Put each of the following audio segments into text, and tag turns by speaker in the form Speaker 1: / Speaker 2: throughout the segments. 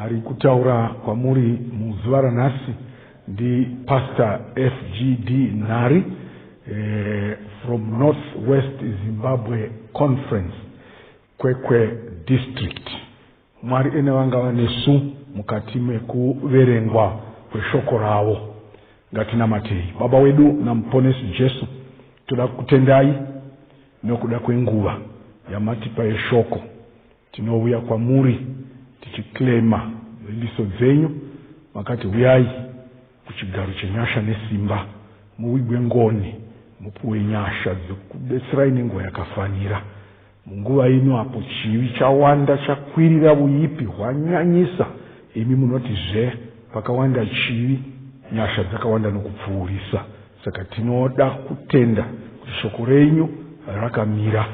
Speaker 1: Ari kutaura kwamuri muzuva ranhasi ndi Pastor FGD Nhari eh, from North West Zimbabwe Conference Kwekwe District. Mwari ene vanga vanesu mukati mekuverengwa kweshoko ravo. Ngatinamatei. Baba wedu naMuponesi Jesu, toda kukutendai nokuda kwenguva yamatipa yeshoko. Tinouya kwamuri tichiclaimer vimbiso dzenyu makati huyai kuchigaro chenyasha nesimba muvigwe ngoni mupuwe nyasha dzekukubetserai nenguva yakafanira. Munguva ino apo chivi chawanda chakwirira vuyipi hwanyanyisa imi munoti zve pakawanda chivi nyasha dzakawanda nokupfuurisa. Saka tinoda kutenda kuti shoko renyu rakamira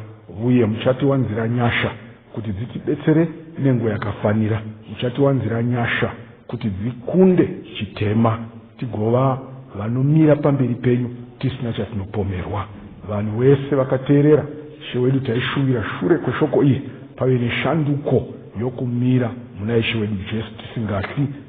Speaker 1: uye muchatiwanzira nyasha kuti dzitibetsere nenguva yakafanira. Muchatiwanzira nyasha kuti dzikunde chitema tigova vanomira pamberi penyu tisina chatinopomerwa. Vanhu wese vakateerera Ishe wedu taishuvira shure kweshoko iri pave neshanduko yokumira muna Ishe wedu Jesu tisingatyi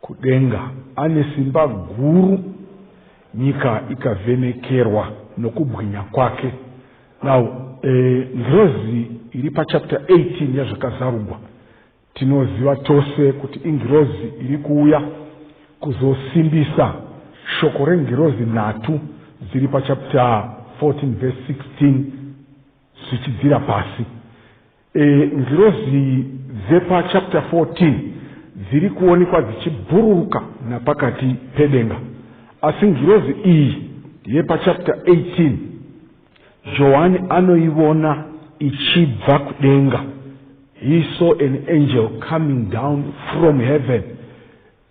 Speaker 1: Kudenga ane simba guru, nyika ikavhenekerwa nokubwinya kwake. Now, eh, ngirozi iri pachapter 18 yaZvakazarugwa, tinoziva tose kuti ingirozi iri kuuya kuzosimbisa shoko rengirozi nhatu dziri pachapter 14 verse 16 zvichidzira pasi. E, ngirozi dzepa chapter 14 dziri kuonekwa dzichibhururuka napakati pedenga asi ngirozi iyi yepachapter 18 johani anoivona ichibva kudenga he saw an angel coming down from heaven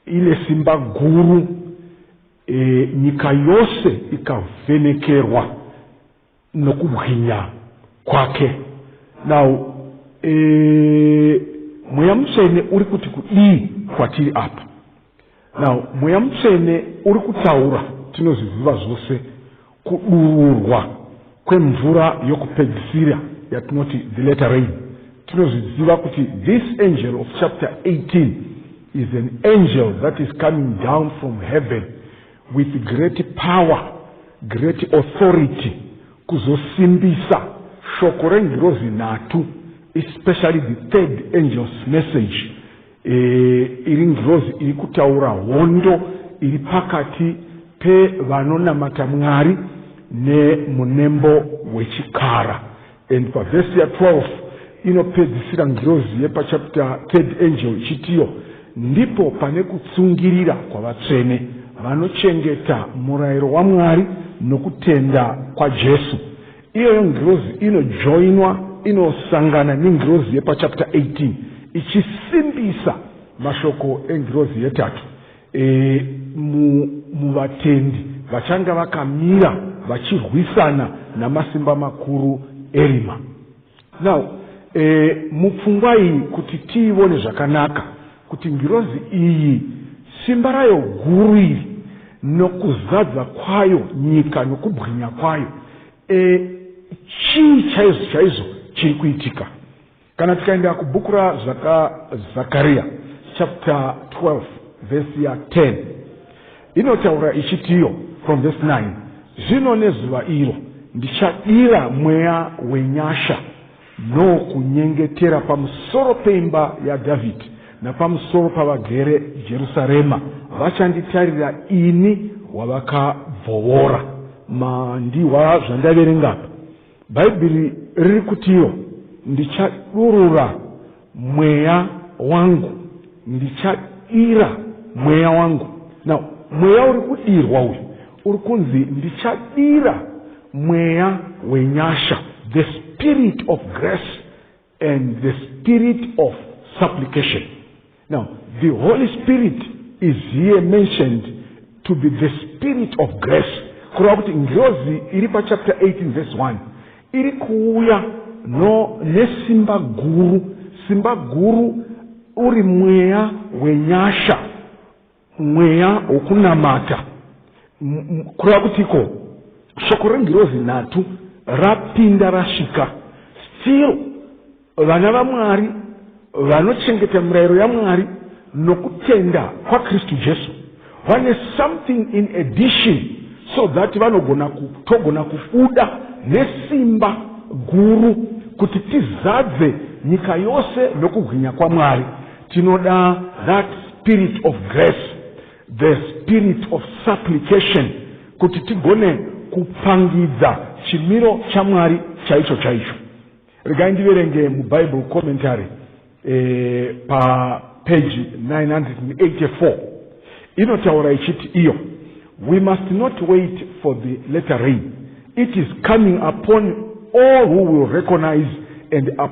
Speaker 1: ine simba guru e, nyika yose ikavhenekerwa nokubwinya kwake now e, mweya mutsvene uri kuti kudii kwatiri apa now mweya mutsvene uri kutaura tinozviziva zvose kudururwa kwemvura yokupedzisira yatinoti the letter rain tinozviziva kuti this angel of chapter 18 is an angel that is coming down from heaven with great power great authority kuzosimbisa shoko rengirozi nhatu especially the third angel's message e, iri ngirozi iri kutaura hondo iri pakati pevanonamata mwari nemunembo wechikara And pavhesi ya 12 inopedzisira ngirozi yepachapita third angel ichitiyo ndipo pane kutsungirira kwavatsvene vanochengeta murayiro wamwari nokutenda kwajesu iyoyo ngirozi inojoinwa inosangana nengirozi yepachapita 18 ichisimbisa mashoko engirozi yetatu e, mu, muvatendi vachanga vakamira vachirwisana namasimba makuru erima now e, mupfungwa iyi kuti tiivone zvakanaka kuti ngirozi iyi simba rayo guru iri nokuzadza kwayo nyika nokubwinya kwayo e, chii chaizvo chaizvo chiri kuitika Kana tikaenda kubhuku raZakariya chapter 12 vhesi ya 10 inotaura ichitiyo from vhesi 9 zvino nezuva iro ndichadira mweya wenyasha nokunyengetera pamusoro peimba yadhavhidhi napamusoro pavagere jerusarema vachanditarira ini wavakabvovora mandiwa zvandaverengapo Bhaibheri riri kutiwo, Ndichadurura mweya wangu, ndichadira mweya wangu. Now, mweya uri kudirwa uyu uri kunzi ndichadira mweya wenyasha, the spirit of grace. and the spirit of supplication now the holy spirit is here mentioned to be the spirit of grace kureva kuti ngirozi iri pachapter 18 verse 1 iri kuuya no nesimba guru simba guru uri mweya wenyasha mweya wokunamata kureva kutiko shoko rengirozi nhatu rapinda rasvika still vana vamwari vanochengeta mirayiro yamwari nokutenda kwakristu jesu vane something in addition so that vanogona togona kubuda nesimba guru kuti tizadze nyika yose nokubwinya kwamwari tinoda that spirit of grace the spirit of supplication kuti tigone kupangidza chimiro chamwari chaicho chaicho regai ndiverenge mubible commentary e, papeji 984 inotaura ichiti iyo we must not wait for the letter rain it is coming upon all who will recognize and up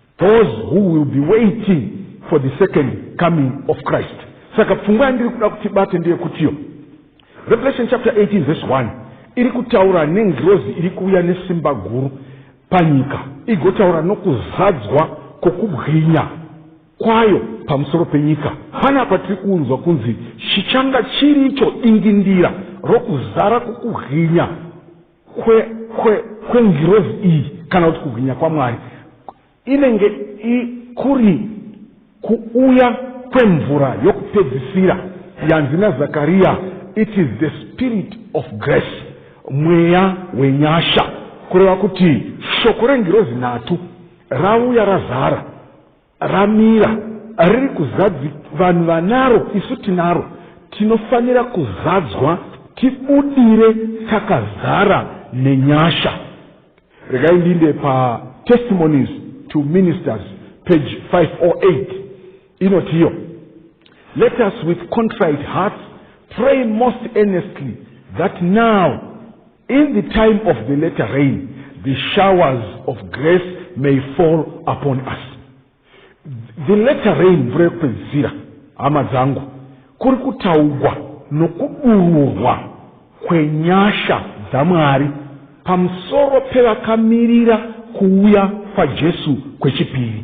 Speaker 1: those who will be waiting for the second coming of christ saka pfungwa yandiri kuda kuti bate ndeyekutiyo revelation chapter 18 verse 1 iri kutaura nengirozi iri kuuya nesimba guru panyika igotaura nokuzadzwa kwokubwinya kwayo pamusoro penyika panapa tiri kuunzwa kunzi chichanga chiri icho dingindira rokuzara kwokubwinya kwe, kwe, kwengirozi iyi kana kuti kubwinya kwamwari inenge kuri kuuya kwemvura yokupedzisira yanzi nazakariya it is the spirit of grace mweya wenyasha kureva kuti shoko rengirozi nhatu rauya razara ramira riri kuzadzi vanhu vanaro isu tinaro tinofanira kuzadzwa tibudire takazara nenyasha regai ndinde patestimonies to ministers page 508 inotiyo let us with contrite hearts pray most earnestly that now In the time of the latter rain, the showers of grace may fall upon us. The latter rain, mvura yekupedzisira, hama dzangu, kuri kutaugwa nokudururwa kwenyasha dzaMwari pamusoro pevakamirira kuuya kwaJesu kwechipiri.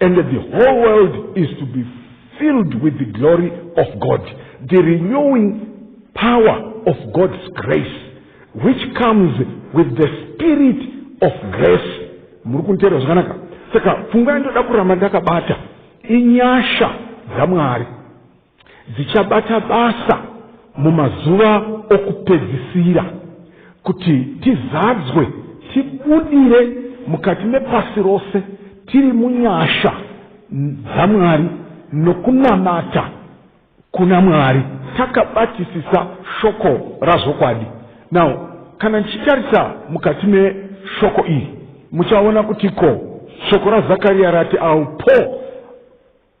Speaker 1: and the whole world is to be filled with the glory of God, the renewing power of God's grace, which comes with the spirit of grace. muri kunteerwa zvakanaka saka pfungwa yandoda kuramba ndakabata inyasha dzamwari dzichabata basa mumazuva okupedzisira kuti tizadzwe tibudire mukati mepasi rose tiri munyasha dzamwari nokunamata kuna mwari takabatisisa shoko razvokwadi now kana ndichitarisa mukati meshoko iri muchaona kuti ko shoko razakariya rati aupo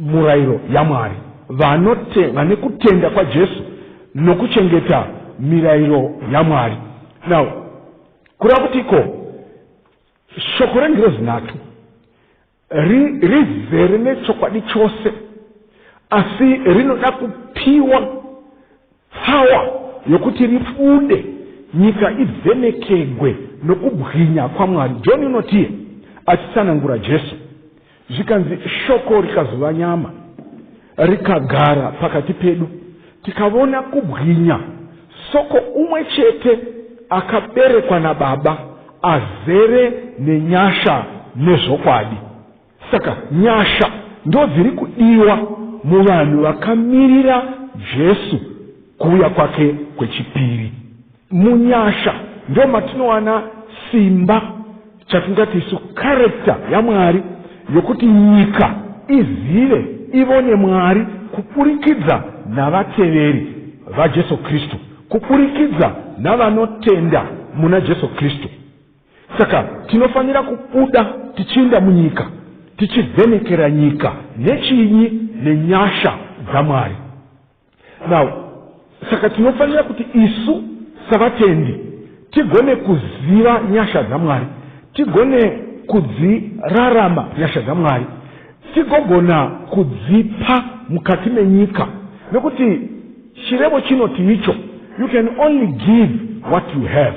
Speaker 1: murairo yaMwari. Vanotenda nekutenda kwaJesu nokuchengeta mirairo yaMwari. Now, kureva kuti iko shoko rengirozi nhatu rizere nechokwadi chose asi rinoda kupiwa Tsawa yokuti ribude, nyika ivhenekegwe nokubwinya kwaMwari. John unotie achitsanangura Jesu, zvikanzi, Shoko rikazova nyama, rikagara pakati pedu, tikavona kubwinya soko umwe chete akaberekwa naBaba, azere nenyasha nezvokwadi. Saka nyasha ndodziri kudiwa muvanhu vakamirira Jesu kuuya kwake kwechipiri. Munyasha ndo matinowana simba chatingati isu karekta yaMwari yokuti nyika izive ivone Mwari kuburikidza navateveri vaJesu Kristu, kuburikidza navanotenda muna Jesu Kristu. saka tinofanira kubuda tichiinda munyika tichivhenekera nyika nechinyi nenyasha dzamwari now saka tinofanira kuti isu savatendi tigone kuziva nyasha dzamwari tigone kudzirarama nyasha dzamwari tigogona kudzipa mukati menyika nekuti chirevo chinoti icho you can only give what you have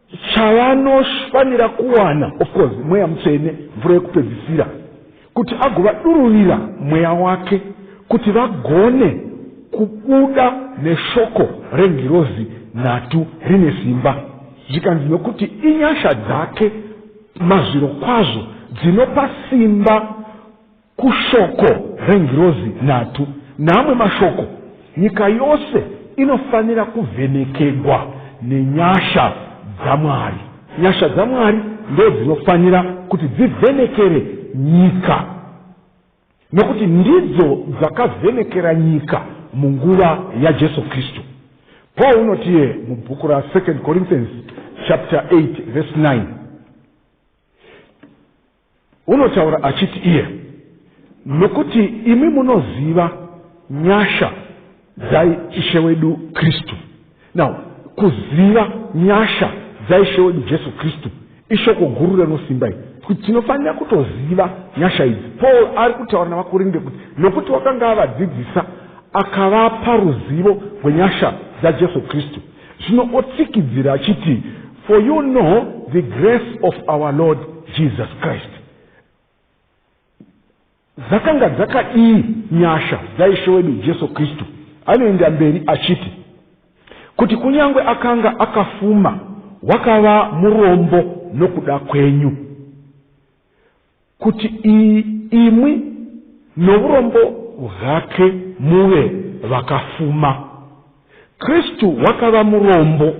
Speaker 1: chavanofanira kuwana of course mweya mutsvene mvura yekupedzisira kuti agovadururira mweya wake kuti vagone kubuda neshoko rengirozi nhatu rine simba zvikanzi nokuti inyasha dzake mazviro kwazvo dzinopa simba Kushoko rengirozi nhatu neamwe mashoko, nyika yose inofanira kuvhenekegwa nenyasha dzaMwari. Nyasha dzaMwari ndodzinofanira kuti dzivhenekere nyika, nokuti ndidzo dzakavhenekera nyika munguva yaJesu Kristu. Paul unotiye mubhuku ra 2 Corinthians chapter 8 verse 9 Unotaura achiti iye, nokuti imi munoziva nyasha dzai Ishe wedu Kristu. Now, kuziva nyasha dzaishe wedu jesu kristu ishoko guru rinosimba iri kuti tinofanira kutoziva nyasha idzi paul ari kutaura navakorinde kuti nokuti wakanga avadzidzisa akavapa ruzivo rwenyasha dzajesu kristu Zvino otsikidzira achiti, For you know the grace of our Lord Jesus Christ. Dzakanga dzakadii nyasha dzaishe wedu Jesu Kristu? Anoenda mberi achiti, Kuti kunyange akanga akafuma, wakava murombo nokuda kwenyu. kuti imwi nourombo hwake muve vakafuma. Kristu wakava murombo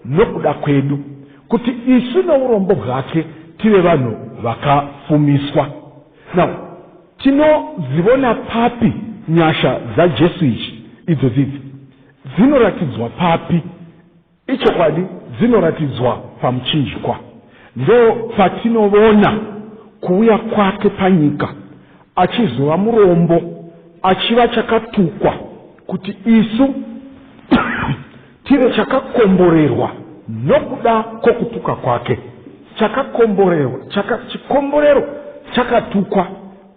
Speaker 1: nokuda kwedu, kuti isu nourombo hwake tive vanhu vakafumiswa. Now, tinozivona papi nyasha dzaJesu ichi? Idzo dzidzi dzinoratidzwa papi? Ichokwadi, dzinoratidzwa pamuchinjikwa. Ndoopatinovona kuuya kwake panyika achizova murombo, achiva chakatukwa kuti isu tive chakakomborerwa nokuda kwokutuka kwake. Chakakomborerwa, chaka, chikomborero chakatukwa.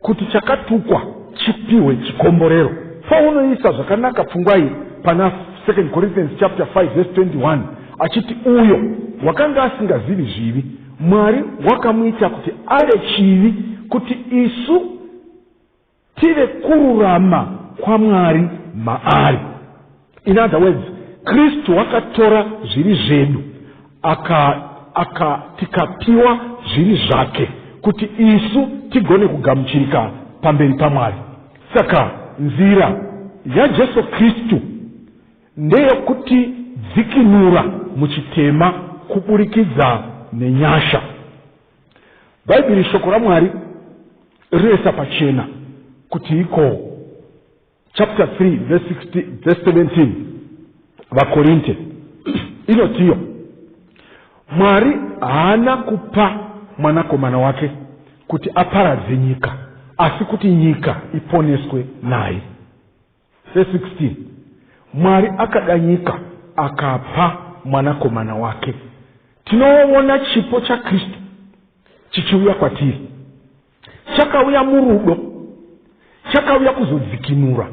Speaker 1: Kuti chakatukwa chipihwe chikomborero. Paul unoisa zvakanaka pfungwa iyi pana 2 Corinthians chapter 5 verse 21 achiti uyo wakanga asingazivi zvivi Mwari wakamuita kuti ave chivi kuti isu tive kururama kwaMwari maari. In other words, Kristu wakatora zviri zvedu aka, aka tikapiwa zviri zvake kuti isu tigone kugamuchirika pamberi paMwari. Saka nzira yaJesu Kristu ndeyokuti dzikinura muchitema kuburikidza nenyasha. Bhaibheri shoko raMwari rinoisa pachena kuti ikoo. chapter 3 verse 16 verse 17 vakorinte inotiyo mwari haana kupa mwanakomana wake kuti aparadze nyika asi kuti nyika iponeswe naye verse 16 mwari akada nyika akapa mwanakomana wake tinoona chipo chakristu chichiuya kwatiri chakauya murudo chakauya kuzodzikinura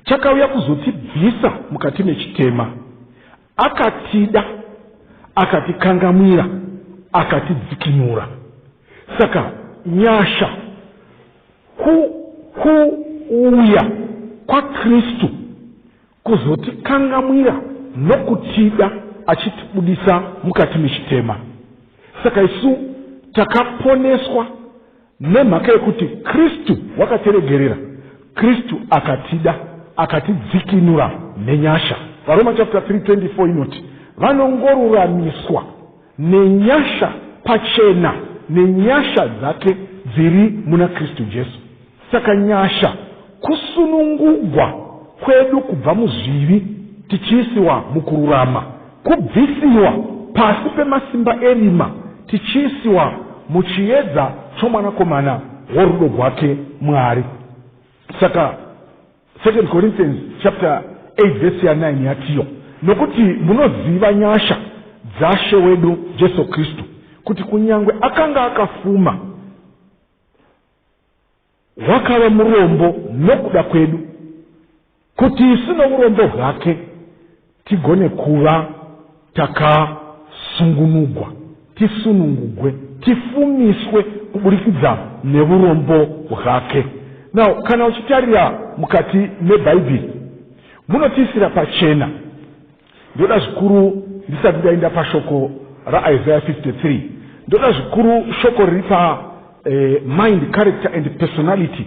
Speaker 1: chakauya kuzotibvisa mukati mechitema akatida akatikangamwira akatidzikinura saka nyasha kuuya kwakristu kuzotikangamwira nokutida achitibudisa mukati mechitema saka isu takaponeswa nemhaka yekuti kristu wakatiregerera kristu akatida akatidzikinura nenyasha varoma chapter 3 24 inoti vanongoruramiswa Nenyasha pachena nenyasha dzake dziri muna Kristu Jesu. Saka nyasha kusunungugwa kwedu kubva muzvivi tichiisiwa mukururama, kubvisiwa pasi pemasimba erima tichiisiwa muchiedza choMwanakomana worudo gwake Mwari. Saka. Second Corinthians chapter 8 verse ya 9 yatiyo nokuti munoziva nyasha dzashe wedu Jesu Kristu kuti kunyangwe akanga akafuma wakava murombo nokuda kwedu kuti isu nourombo hwake Tigone kuva takasungunugwa, tisunungugwe, tifumiswe kuburikidza neurombo hwake. Now, kana uchitarira mukati mebhaibheri munotiisira pachena. Ndoda zvikuru ndisati ndaenda pashoko raIsaiah 53 ndoda zvikuru shoko riri pa eh, mind character and personality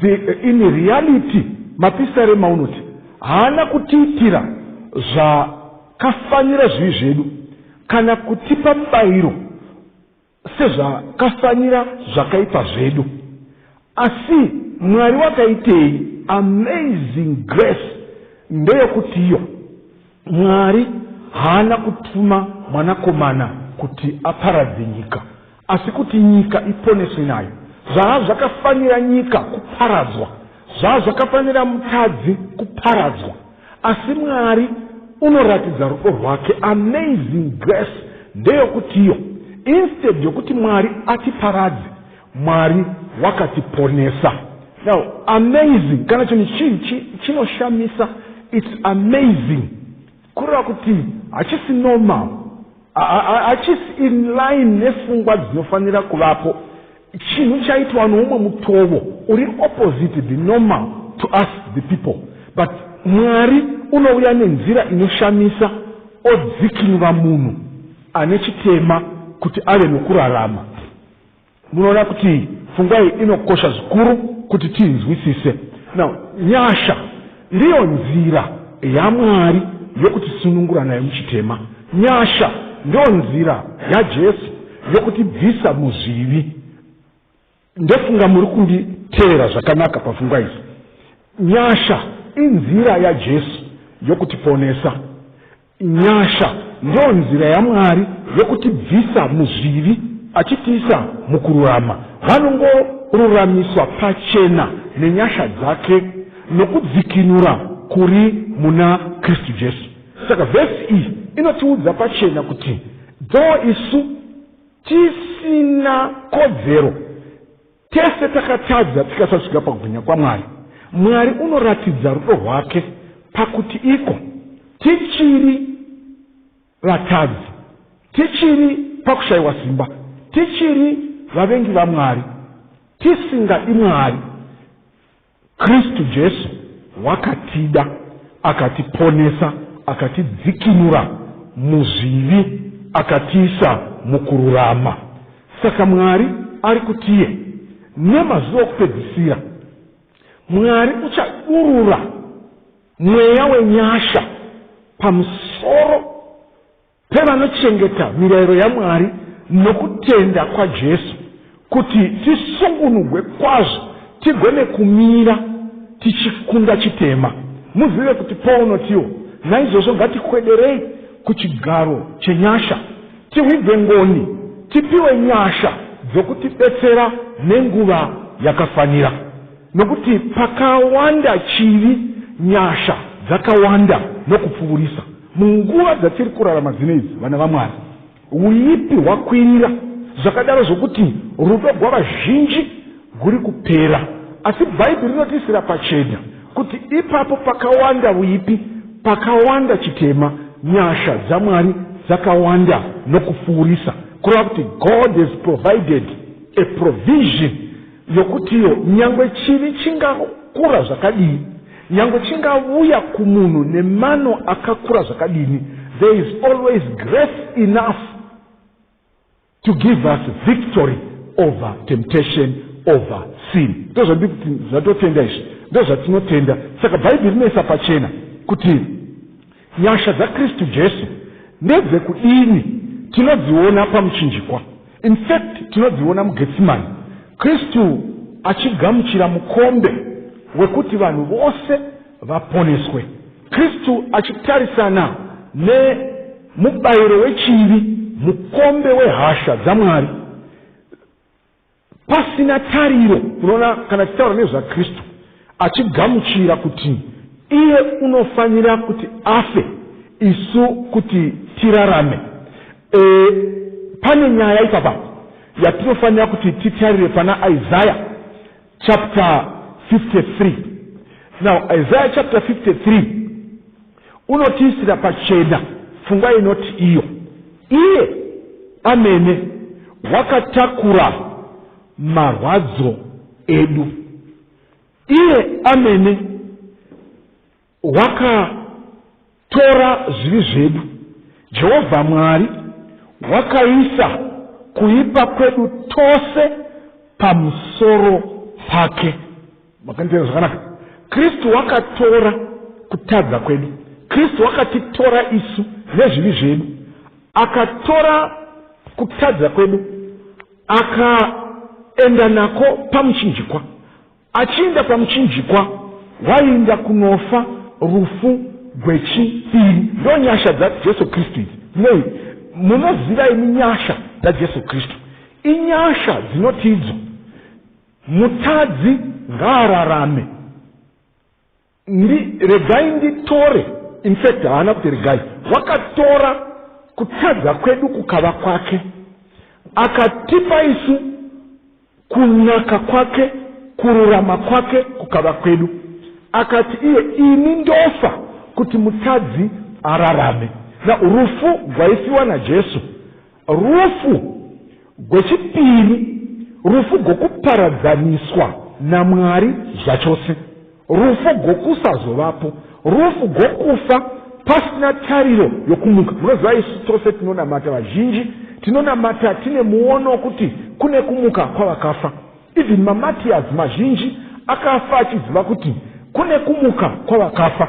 Speaker 1: The, in reality mapisarema unoti haana kutiitira zvakafanira zvivi zvedu kana kutipa mubayiro sezvakafanira zvakaipa zvedu asi mwari wakaitei amazing grace ndeyokuti iyo Mwari haana kutuma mwanakomana kuti aparadze nyika, asi kuti nyika iponeswe nayo. Zvaa zvakafanira nyika kuparadzwa, zvaa zvakafanira mutadzi kuparadzwa, asi Mwari unoratidza rudo rwake. Amazing grace ndeyokuti iyo, instead yokuti Mwari atiparadze, Mwari wakatiponesa. Now amazing kana chinhu chii chinoshamisa its amazing kureva kuti hachisi normal hachisi in line nefungwa dzinofanira kuvapo chinhu chaitwa noumwe mutovo uri opposite the normal to us the people but mwari unouya nenzira inoshamisa odzikinura munhu ane chitema kuti ave nokurarama Munoona kuti pfungwa iyi inokosha zvikuru kuti tiinzwisise. Now, nyasha ndiyo nzira yaMwari yokutisunungura nayo muchitema. Nyasha ndiyo nzira yaJesu yokutibvisa muzvivi. Ndofunga muri kunditeera zvakanaka pafungwa izi. Nyasha inzira yaJesu yokutiponesa. Nyasha ndiyo nzira yaMwari yokutibvisa muzvivi achitiisa mukururama. Vanongoruramiswa pachena nenyasha dzake nokudzikinura kuri muna Kristu Jesu. Saka vhesi iyi inotiudza pachena kuti though isu tisina kodzero, Tese takatadza tikasasvika pakubwinya kwaMwari. Mwari unoratidza rudo rwake pakuti iko tichiri vatadzi, tichiri pakushayiwa simba, tichiri vavengi vaMwari, tisingadi Mwari, Kristu Jesu wakatida, akatiponesa, akatidzikinura muzvivi, akatiisa mukururama. Saka Mwari ari kutiye nemazuva okupedzisira, Mwari uchadurura mweya wenyasha pamusoro Pevanochengeta mirayiro yaMwari nokutenda kwaJesu kuti tisungunugwe kwazvo tigone kumira tichikunda chitema. Muzive kuti Paul unotiwo, Naizvozvo ngatikwederei kuchigaro chenyasha, tihwidze ngoni, tipiwe nyasha dzokutibetsera nenguva yakafanira. Nokuti pakawanda chivi, nyasha dzakawanda nokupfuurisa. Munguva dzatiri kurarama dzino idzi, vana vaMwari, uipi hwakwirira zvakadaro zvokuti rudo gwavazhinji guri kupera. Asi Bhaibheri rinotiisira pachena kuti ipapo pakawanda uipi, pakawanda chitema, nyasha dzaMwari dzakawanda nokupfuurisa, kureva kuti God has provided a provision Yokutiwo, nyangwe chivi chingakura zvakadii, nyangwe chingavuya kumunhu nemano akakura zvakadini, there is always grace enough to give us victory over temptation over sin. Ndozvandiri kuti zvatotenda izvi, ndozvatinotenda. Saka Bhaibheri rinoisa pachena kuti Nyasha dzaKristu Jesu ndedzekudini? Tinodziona pamuchinjikwa. In fact, tinodziona muGetsimani, Kristu achigamuchira mukombe wekuti vanhu vose vaponeswe, Kristu achitarisana nemubayiro wechivi, mukombe wehasha dzaMwari. Pasina tariro, unoona, kana tichitaura nezvaKristu, achigamuchira kuti iye unofanira kuti afe isu kuti tirarame. E, pane nyaya ipapa yatinofanira kuti titarire pana Isaya chapter 53. Now, Isaya chapter 53 Unotiisira pachena pfungwa inoti iyo iye amene wakatakura marwadzo edu, iye amene wakatora zvivi zvedu. Jehovha Mwari wakaisa kuipa kwedu tose pamusoro pake. makanditeera zvakanaka kristu wakatora kutadza kwedu kristu wakatitora isu nezvivi zvedu akatora kutadza kwedu akaenda nako pamuchinjikwa achiinda pamuchinjikwa waiinda kunofa rufu gwechipiri ndo nyasha dzajesu kristu idzi nei munoziva imi nyasha dzajesu kristu inyasha dzinotiidzo Mutadzi ngaararame. Ndi, regai nditore. In fact haana kuti regai. Wakatora kutadza kwedu kukava kwake. Akatipa isu kunaka kwake, kururama kwake kukava kwedu. Akati iye ini ndofa kuti mutadzi ararame. Na rufu gwaifiwa naJesu. Rufu gwechipiri rufu gwokuparadzaniswa naMwari zvachose, rufu gwokusazovapo, rufu gwokufa pasina tariro yokumuka. Munoziva isu tose tinonamata, vazhinji tinonamata tine muono wokuti kune kumuka kwavakafa. Even maMatias mazhinji akafa achiziva kuti kune kumuka kwavakafa.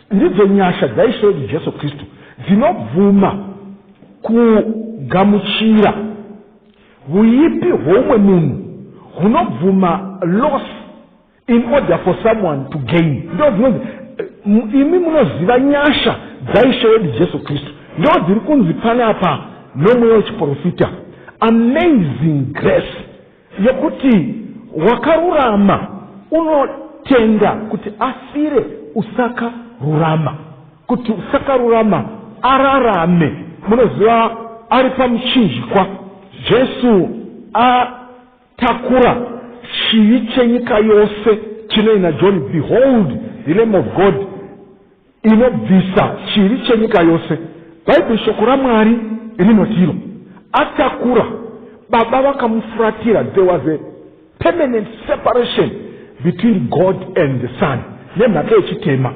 Speaker 1: Ndidzo nyasha dzaIshe wedu Jesu Kristu dzinobvuma kugamuchira huipi hwoumwe munhu hunobvuma loss in order for someone to gain. Ndo dzinonzi eh, imi munoziva nyasha dzaIshe wedu Jesu Kristu ndo dziri kunzi panapa nomweya wechiprofita amazing grace Yokuti wakarurama unotenda kuti afire usaka rurama kuti usaka rurama ararame munoziva ari pamuchinjikwa jesu atakura chivi chenyika yose chinoina john behold the lame of god inobvisa chivi chenyika yose. Bhaibheri shoko raMwari rinoti iro atakura baba vakamufuratira there was a permanent separation between God and the son nemhaka yechitema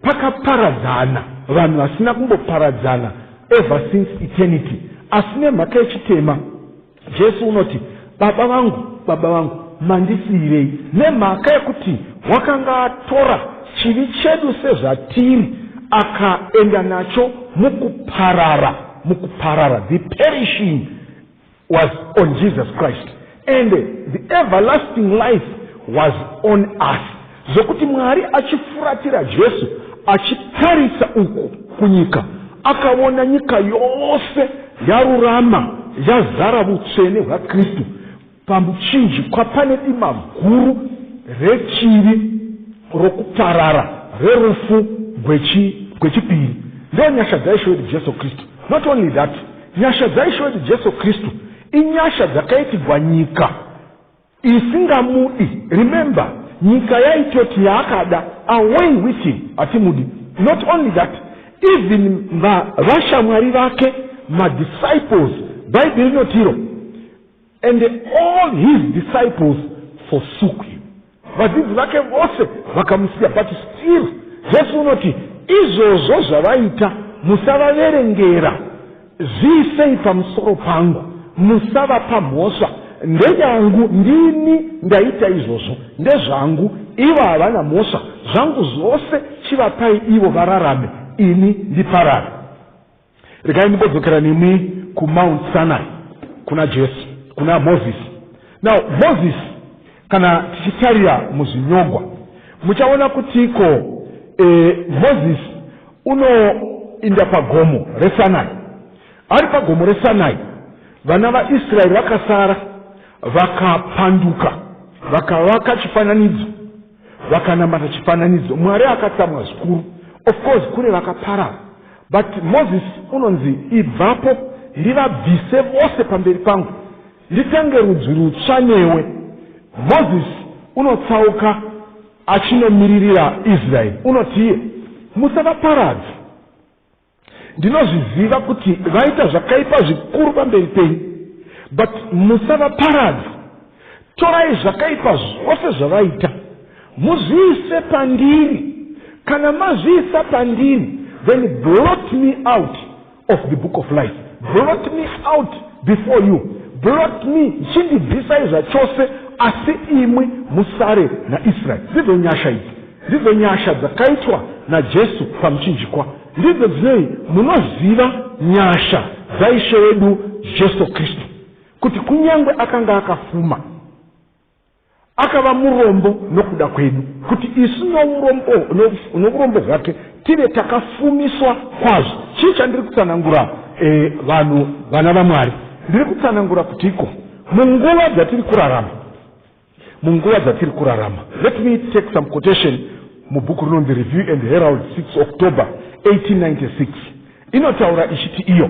Speaker 1: pakaparadzana vanhu vasina kumboparadzana ever since eternity asi nemhaka yechitema Jesu unoti, Baba vangu, Baba vangu, mandisiirei? Nemhaka yekuti wakanga atora chivi chedu sezvatiri, akaenda nacho mukuparara, mukuparara. The perishing was on Jesus Christ and the everlasting life was on us. Zvokuti Mwari achifuratira Jesu achitarisa uku kunyika, akaona nyika yose yarurama, yazara vutsvene hwaKristu. Pamuchinjikwa pane dima guru rechivi, rokuparara, rerufu gwechipiri. Ndiyo nyasha dzaIshe wedu Jesu Kristu. Not only that, nyasha dzaIshe wedu Jesu Kristu inyasha dzakaitigwa nyika. isingamudi remember nyika yaitoti yaakada away with him hatimudi not only that even vashamwari vake madisciples bhaibheri rinotiro and all his disciples forsook him vadzidzi vake vose vakamusiya but still jesu unoti izvozvo zvavaita musavaverengera Zviisei pamusoro pangu, musavapa mhosva. Ndeyangu, ndini ndaita izvozvo, ndezvangu, ivo havana mhosva. Zvangu zvose chivapai ivo vararame, ini ndiparare. Regai ndimbodzokera nemi kuMount Sinai, kuna Jesu, kuna Mozisi. Now, Mozisi Kana tichitarira muzvinyogwa muchaona kuti iko e, eh, mozisi unoinda pagomo resanai ari pagomo resanai vana vaisraeri vakasara vakapanduka vakavaka chifananidzo vakanamata chifananidzo mwari akatsamwa zvikuru of course kure vakaparara but mozisi unonzi ibvapo ndivabvise vose pamberi pangu Nditange rudzi rutsva newe. Mozisi unotsauka achinomiririra Israeri unoti iye, Musavaparadze. Ndinozviziva kuti vaita zvakaipa zvikuru pamberi penyu, but musavaparadze. Torai zvakaipa zvose zvavaita muzviise pandiri. Kana mazviisa pandiri, then blot me out of the book of life blot me out before you blot me chindibvisai zvachose asi imwi musare naisraeri ndidzo nyasha idzi ndidzo nyasha dzakaitwa najesu pamuchinjikwa ndidzo dzinei munoziva nyasha dzaishe wedu jesu kristu kuti kunyange akanga akafuma Akava murombo nokuda kwedu, kuti isu nourombo, no, nourombo hwake tive takafumiswa kwazvo. Chii chandiri kutsanangura e, vanhu vana vaMwari? Ndiri kutsanangura kuti iko munguva dzatiri kurarama munguva dzatiri kurarama let me take some quotation mubhuku rinonzi review and herald 6 october 1896 inotaura ichiti iyo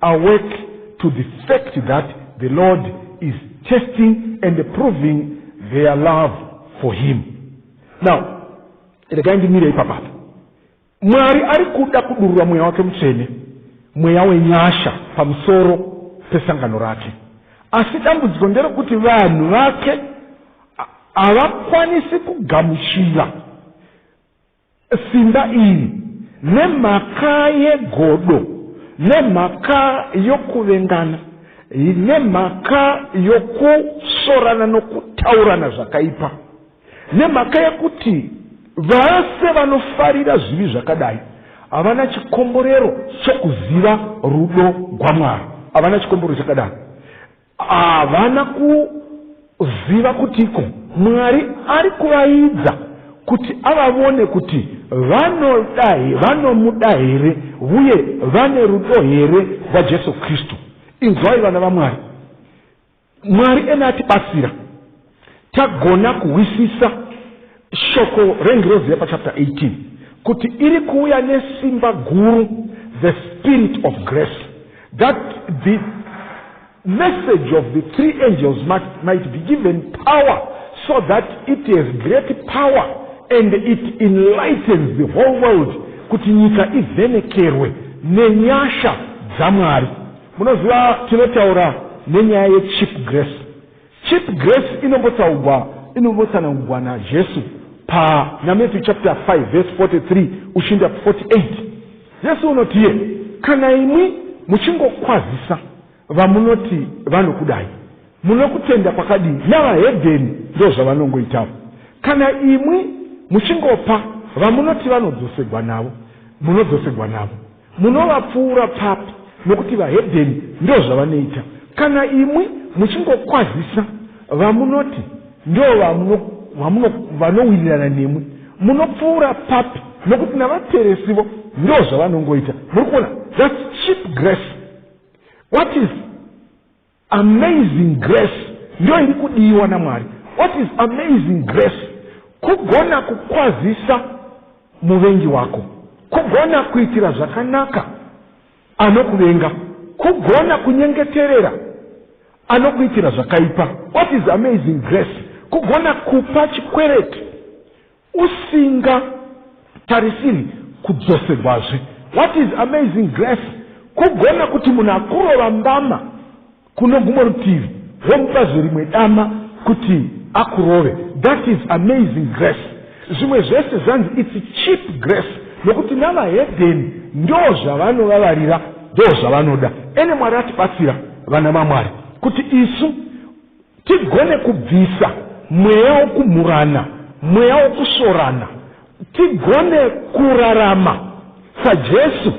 Speaker 1: awake to the fact that the lord is testing and proving their love for him now regai ndimire ipapapa mwari ari kuda kudurura mweya wake mutsvene mweya wenyasha pamusoro pesangano rake asi dambudziko nderekuti vanhu vake havakwanisi kugamuchira Simba iri, nemhaka yegodo, nemhaka yokuvengana, nemhaka yokusvorana nokutaurana zvakaipa, nemhaka yekuti vose vanofarira zvivi zvakadai havana chikomborero chokuziva rudo gwaMwari, havana chikomborero chakadaro. Havana kuziva kutiko Mwari ari kuvaidza kuti avavone kuti vanoda vanomuda here uye vane rudo here rwaJesu Kristu. Inzwai vana vaMwari, Mwari ena atibatsira. Tagona kuhwisisa shoko rengirozi yepachapter 18 kuti iri kuuya nesimba guru the spirit of grace that the message of the three angels might, might be given power so that it has great power and it enlightens the whole world kuti nyika ivhenekerwe nenyasha dzamwari munoziva tinotaura nenyaya yechip grace Cheap grace inombotaugwa inombotsanangugwa naJesu pa naMatthew chapter 5 verse 43 uchinda 48. Jesu unotie kana imwi muchingokwazisa vamunoti vanokudai munokutenda kwakadii navahedheni ndozvavanongoitawo kana imwi muchingopa vamunoti vanodzosegwa navo munodzosegwa navo Munovapfuura papi nokuti vahedheni ndozvavanoita kana imwi muchingokwazisa vamunoti ndovanowirirana nemwi munopfuura papi nokuti navateresivo ndozvavanongoita muri kuona thats cheap grace what is Amazing grace ndiyo iri kudiwa namwari what is amazing grace kugona kukwazisa muvengi wako kugona kuitira zvakanaka anokuvenga kugona kunyengeterera anokuitira zvakaipa what is amazing grace kugona kupa chikwereti usinga tarisiri kudzoserwazve what is amazing grace kugona kuti munhu akurova mbama kuno gumwe rutivi womupa zverimwe dama kuti akurove that is amazing grace zvimwe zvese zvanzi its cheap grace nokuti navahedheni ndo zvavanovavarira ndo zvavanoda ene mwari atibatsira vana mamwari kuti isu Tigone kubvisa mweya wokumhurana, mweya wokusvorana. Tigone kurarama saJesu.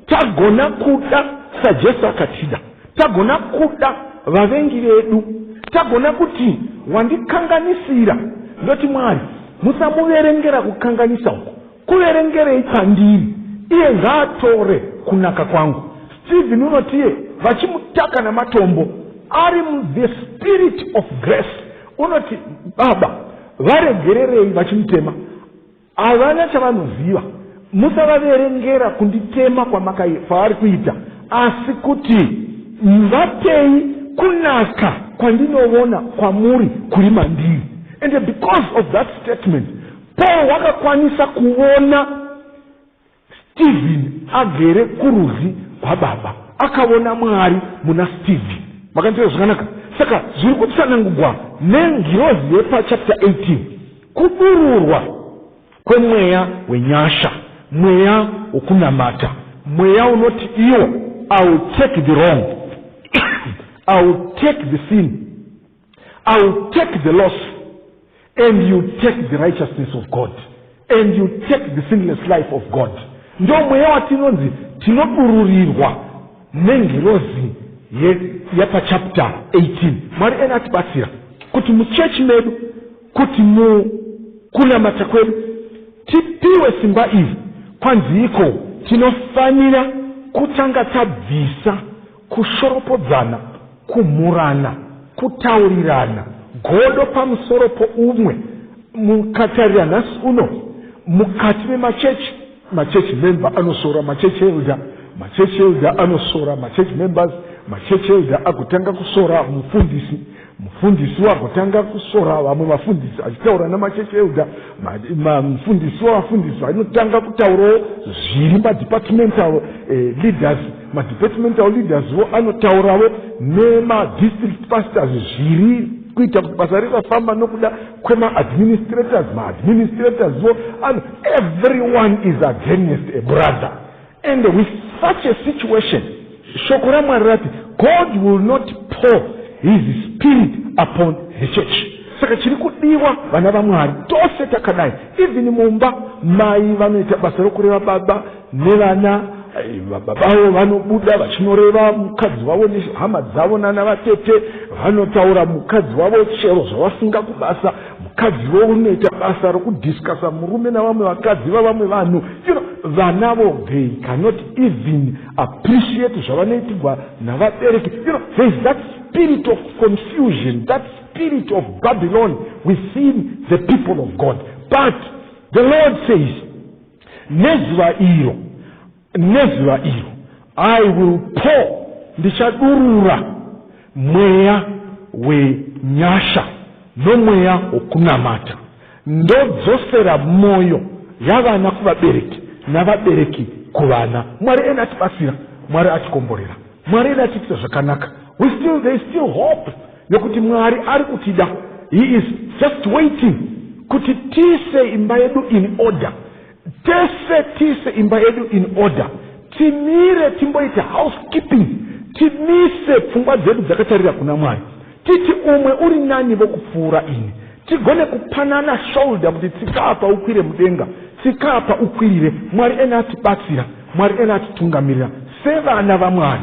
Speaker 1: Tagona kuda saJesu akatida. Tagona kuda vavengi vedu. Tagona kuti wandikanganisira ndoti Mwari musamuverengera kukanganisa uku. Kuverengerei kwandiri? Iye ngaatore kunaka kwangu. Stephen unotiye vachimutaka namatombo ari muthe spirit of grace unoti baba varegererei vachimutema havana chavanoziva musavaverengera kunditema kwamakaifavari kuita asi kuti vatei kunaka kwandinovona kwamuri kuri mandiri and because of that statement Paul wakakwanisa kuona Stephen agere kurudyi kwaBaba. Akaona Mwari muna Stephen. Makanzira zvakanaka. Saka zviri kutsanangugwa nengirozi yepachapita 18 kudururwa kwemweya wenyasha, mweya wokunamata, mweya unoti iwo, I will take the wrong, I will take the sin. I will take the loss and you take the righteousness of God and you take the sinless life of God. Ndo mweya watinonzi tinodururirwa nengirozi yepachapter 18. Mwari ena atibatsira kuti muchechi medu kuti mukunamata kwedu tipiwe simba iri kwanziiko tinofanira kutanga tabvisa kushoropodzana, kumhurana, kutaurirana godo pamusoro poumwe. Mukatarira nhasi uno mukati memachechi, machechi member anosora machechi elder, machechi elder anosora machechi members, machechi elder agotanga kusora mufundisi. Mufundisi wagotanga kusora vamwe vafundisi achitaura namachechi euda mufundisi wavafundisi vanotanga kutaurawo zviri madepartmental eh, leaders madepartmental leaders vo anotauravo nemadistrict pastors zviri kuita kuti basa risafamba nokuda kwemaadministrators maadministrators vo everyone is against a brother And with such a situation, shoko raMwari rati, God will not pour his spirit upon the church. Saka chiri kudiwa vana vaMwari tose takadai, even mumba mai vanoita basa rokureva baba nevana eh, baba vavo vanobuda vachinoreva mukadzi wavo nehama dzavo nana vatete vanotaura mukadzi wavo chero zvavasinga kubasa mukadzi vo unoita basa rokudiscusa murume navamwe vakadzi vavamwe vanhu you know, vana vo they cannot even appreciate zvavanoitirwa navabereki you know, there is that spirit of confusion that spirit of babylon within the people of god but the lord says nezuva iro Nezuva iro I will pour, ndichadurura mweya wenyasha nomweya wokunamata, ndodzosera mwoyo yavana kuvabereki navabereki kuvana. Mwari ena atibatsira, Mwari atikomborera, Mwari ena atiitira zvakanaka. We still, there is still hope yokuti Mwari ari kutida. He is just waiting kuti tiise imba yedu in order. Tese tiise imba yedu in order, timire timboita housekeeping, timise pfungwa dzedu dzakatarira kuna Mwari, titi umwe uri nani vokupfuura ini, tigone kupanana shoulder kuti tsika apa ukwire mudenga, tsika apa ukwirire. Mwari ena atibatsira, Mwari ena atitungamirira sevana vaMwari.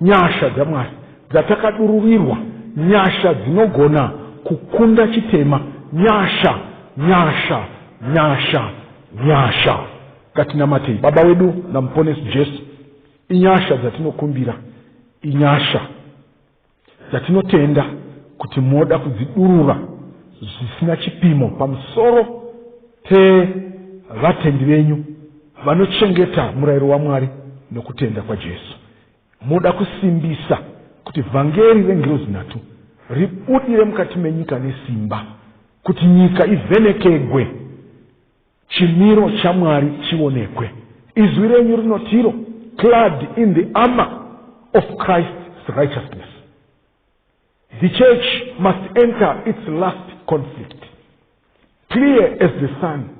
Speaker 1: Nyasha dzaMwari dzatakadururirwa, nyasha dzinogona kukunda chitema, nyasha, nyasha, nyasha, nyasha. Ngatinamatei. Baba wedu naMuponesi Jesu, inyasha dzatinokumbira, inyasha dzatinotenda kuti moda kudzidurura zvisina chipimo pamusoro pevatendi venyu vanochengeta murayiro waMwari nokutenda kwaJesu. Moda kusimbisa kuti vhangeri rengirozi nhatu ribudire mukati menyika nesimba kuti nyika ivhenekegwe, chimiro chaMwari chionekwe. Izwi renyu rinotiro, clad in the armor of Christ's righteousness. The church must enter its last conflict. Clear as the sun,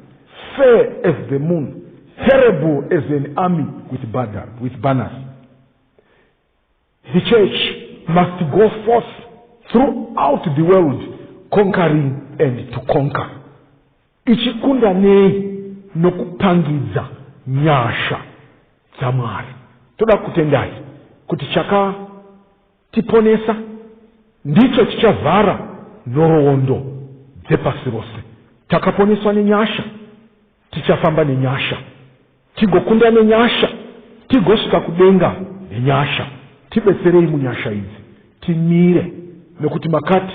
Speaker 1: fair as the moon, terrible as an army with, banner, with banners. The church must go forth throughout the world conquering and to conquer. Ichikunda nei nokupangidza nyasha dzamwari. Toda kutendai kuti chaka Tiponesa ndicho chichavhara nhoroondo dzepasi rose. Takaponeswa nenyasha, tichafamba nenyasha, tigokunda nenyasha, tigosvika kudenga nenyasha. Tibetserei munyasha idzi, timire, nekuti makati